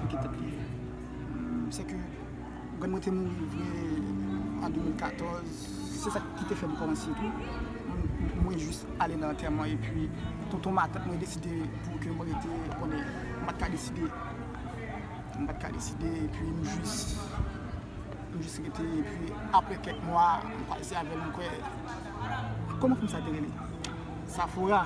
Li gen tèt li ye. M sè ke grann mwen te mouri vre an 2014. Se sa ki te fè m kòmanse tou. Mwen jis ale nan antèman e pi tonton matant mwen deside pou ke mwen rete konnen m pa t ka deside. M pa t ka deside e pi m jis m jis rete e pi apre kèk mwa m pase avè l m kwè. Kòman fanm sa te rele? Safora.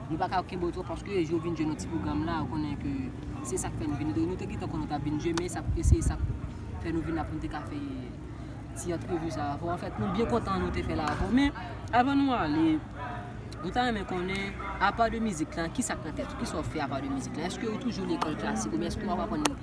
Nou pa ka kenbe w twòp paske yon jou ou vin jwenn yon ti pwogram la ou konnen ke se sa k fè nou vin do nou te gentan konnen w t ap vin jwenn men sa k se sa k fè nou vin la pou nou te ka fè ti antrevi sa a avè w anfèt nou byen kontan nou te fè la avè w men avan nou ale nou ta renmen konnen apa de mizik la ki sa k nan tèt ou ki sa w fè apa de mizik la èske ou toujou lekòl klasik oubyen èske w ap aprann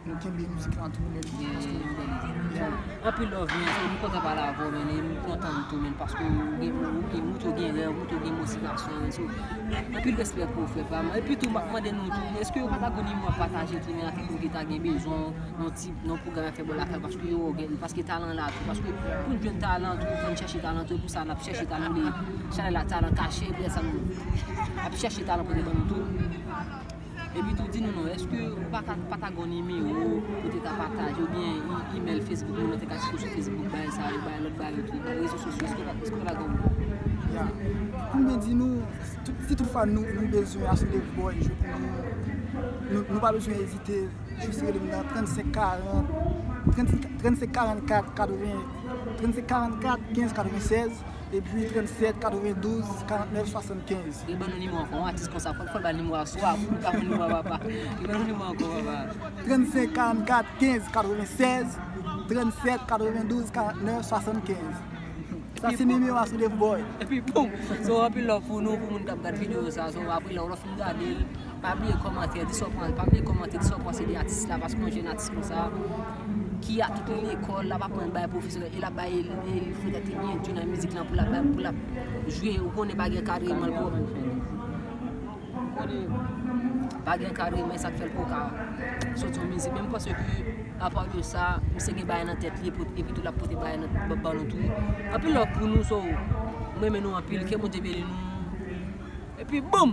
Nou kenbe mizik lan tou lèt byen paske nou bèl moun. Anpil love men m kontan pale avèw men e m kontan tou men paske ou gen wout yo gen rèv wout yo gen motivasyon men so anpil respè pou ou frè pam epi tou map mande nou tou eske yo pata gon nimewo ap pataje tou men avèk nou ki ta gen bezwen yon ti yon pwogram fè bò lakay paske yo wè gen paske talan la tou paske poun jwenn talan tou fòn chèche talan tou epousa nap chèche talan li chanèl la talan kache epi lèsa nou ap chèche talan pou nou ban nou tou. Epi tou di nou non, eske ou pa ka pata gon nimewo pou te ka pataje ou byen imel Facebook moun nan te ka cheke w sou Facebook bay sa yo bay lot bagay tou bay rezo sosyo eske ou pa ta gon. Ya. Pou mwen di nou si tout fwa nou nou bezwen achte boy jou pou nou nou pa bezwen ezite jis rele m nan 35 40 35 44 80 35 44 15 96. Epi 37 92 49 75. Li ban nou nimero ankò yon atis konsa fòl bal nimero a swa poul pa konn nimero a papa li ban nou nimero ankò papa. 35 44 15 96 37 92 49 75 sa se nimero a Soulève Boy. Epi poum so anpil love pou nou pou moun kap gad video sa so apre lè ou lè ou fin gadel pa bliye kòmantè di sa ou panse pa bliye kòmante di sa ou panse de atis la paske yon jèn atis konsa. ki a tout lekòl lap aprann bay pwofesè e lap bay elèv pou yo te byen jwe nan mizik lan pou lap jwe ou konnen pa gen kadreman pou ou konnen pa gen kadreman e sak fèl poka soti yon mizik men m panse ke apa de sa misye gen bagay nan tèt li epi tou lap pote bagay nan ba nou tou anpil love pou nou so m renmen nou anpil ke Bondye beni nou epi boom.